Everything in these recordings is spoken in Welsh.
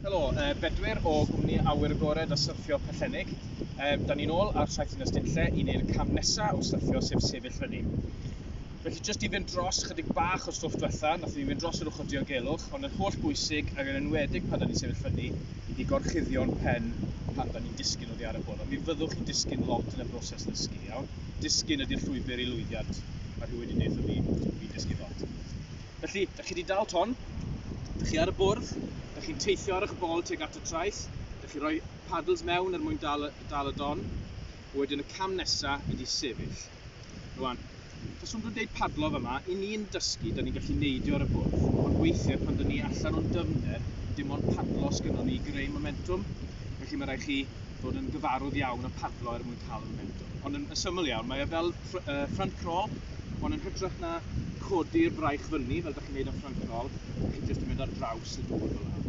Helo, uh, Bedwyr o gwmni Awyr Agored a Syrffio Pellennig. Um, da ni'n ôl ar Saith Dinas Dinlle i wneud y cam nesaf o syrffio sef sefyll fyny. Felly jyst i fynd dros chydig bach o stwff diwetha, nath ni fynd dros yr ochr diogelwch, ond yn holl bwysig ac yn enwedig pan da ni'n sefyll fyny i gorchuddio'n pen pan da ni'n disgyn oddi ar y bwrdd. Mi fyddwch chi'n disgyn lot yn y broses ddysgu, iawn? Disgyn ydy'r llwybr i lwyddiant, mae rhyw wedi deutho fi, fi'n dysgu lot. Felly, dych chi wedi dal ton, dych chi ar y bwrdd, dych chi'n teithio ar eich bol tuag at y traeth, dych chi roi paddles mewn er mwyn dal, dal y don, wedyn y cam nesa ydy sefyll. Rwan, taswn dwi'n deud padlo fama, i ni'n dysgu, da ni'n gallu neidio ar y bwrdd, ond weithiau pan da ni allan o'n dyfnder, dim ond padlo sgynnon ni i greu momentwm, felly mae rhaid chi fod yn gyfarwdd iawn â padlo er mwyn cael y momentwm. Ond yn syml iawn, mae e fel front crawl, ond yn hytrach na codi'r fraich fyny, fel da chi'n neud yn front crawl, da chi jyst yn mynd ar draws y dŵr fel yna.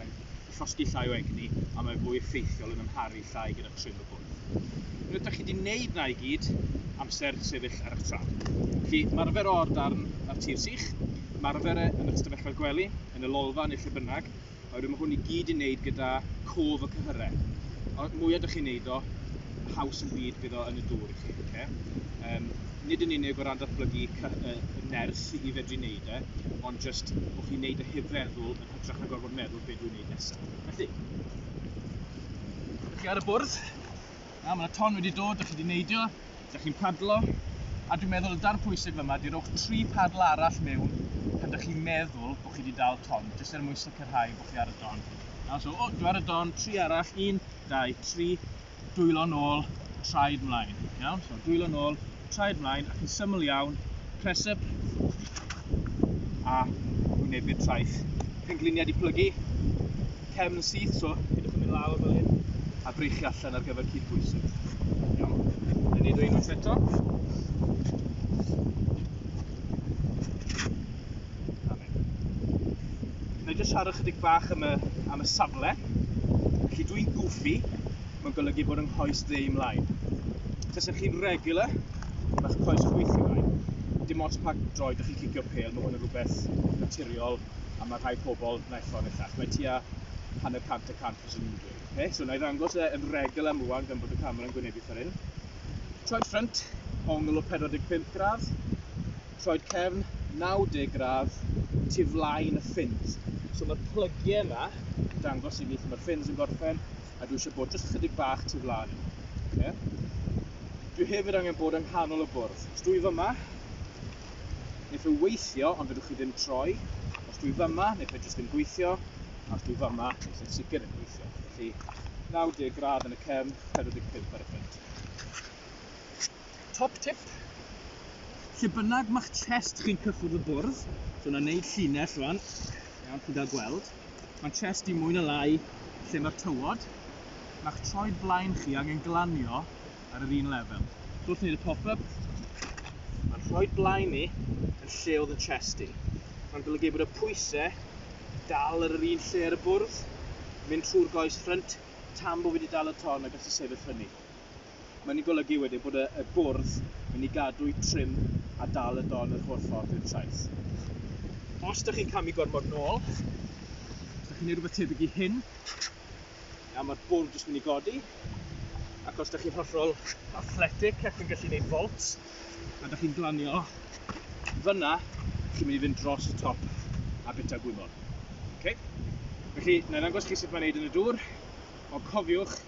Mae'n llosgi llai o egni, a mae fwy effeithiol yn amharu llai gyda trim y bwrdd. Unwaith da chi wedi neud na i gyd, amser sefyll ar eich traed. Felly, marfer o ar darn ar tir sych, marfer e yn eich stafelloedd gwely, yn y lolfa neu lle bynnag, Oherwydd mae hwn i gyd i wneud gyda cof y cyhyrau. Y mwyaf dych chi'n neud o, y haws yn byd bydd o yn y dŵr i chi. Okay? Um, nid yn unig o ran datblygu y nerth i fedru wneud e, ond jyst bod chi'n neud y heb feddwl yn hytrach na gorfod meddwl beth dwi'n neud nesaf. Felly, ydych chi ar y bwrdd? Na, mae yna ton wedi dod, da chi wedi neidio, da chi'n padlo, a dwi'n meddwl y darn pwysig fyma di rowch tri padl arall mewn pan da chi'n meddwl bod chi wedi dal ton, jyst er mwyn sicrhau bod chi ar y don. Na, so, o, dwi ar y don, tri arall, un, dau, tri, dwylo nôl, traed mlaen. Iawn, so dwylo nôl, traed mlaen ac yn syml iawn, press up a wynebu'r traeth. Pengliniau di plygu, cefn yn syth, so pidwch yn mynd lawr fel hyn, a breichu allan ar gyfer cyd bwysig. Iawn, yn neud o unwaith eto. Neu jyst siarad chydig bach am y, am y safle. Felly dwi'n gwfi, mae'n golygu bod yng nghoes dde i mlaen. Tasech chi'n regular, mae'ch coes chwith i mlaen. Dim ots pa droed ych chi'n cicio pel, mae hwn yn rhywbeth naturiol a mae rhai pobl naill ffordd neu llall. Mae tua hanner cant y cant fyswn i'n dweud. Okay? So, na i ddangos e yn regular am rwan gan bod y camera yn gwynebu ffordd hyn. Troed ffrynt, ongl o 45 gradd, troed cefn 90 gradd, tu flaen y ffins. So mae'r plygiau yma yn dangos i ni lle mae'r ffins yn gorffen, a dwi eisiau bod jyst chydig bach tu flaen. Okay? Dwi hefyd angen bod yng nghanol y bwrdd. Os dwi fyma, neu fe weithio, ond fedrwch chi ddim troi. Os dwi fyma, neu fe jyst ddim gweithio, a os dwi fyma, neu fe'n sicr yn gweithio. Felly, 90 gradd yn y cefn, 45 ar y ffit. Top tip, lle bynnag mae'ch chest chi'n cyffwrdd y bwrdd, so yna wneud llinell rwan, iawn, chi'n dda gweld, Mae chest i mwy na lai lle mae'r tywod. Mae'ch troed blaen chi angen glanio ar yr un lefel. Wrth wneud y pop up, mae'n rhoi'n blaen ni yn lle oedd yn chest i. Mae'n golygu bod y pwysau dal ar yr un lle ar y bwrdd, mynd trwy'r goes ffrynt tan bod fi wedi dal y ton a gallu sefyll fyny. Mae hynny'n golygu wedyn bod y y bwrdd mynd i gadw'i trim a dal y don yr holl ffordd i'r traeth. Os dych chi'n camu gormod nôl, os dych chi'n neud rhywbeth tebyg i hyn, nawr mae'r bwrdd jyst mynd i godi, ac os dych chi'n hollol athletic ac yn gallu neud volt, a dych chi'n glanio fyna, chi'n mynd i fynd dros y top a bita gwymon. Okay? Felly, na i ddangos chi sut mae'n neud yn y dŵr, ond cofiwch,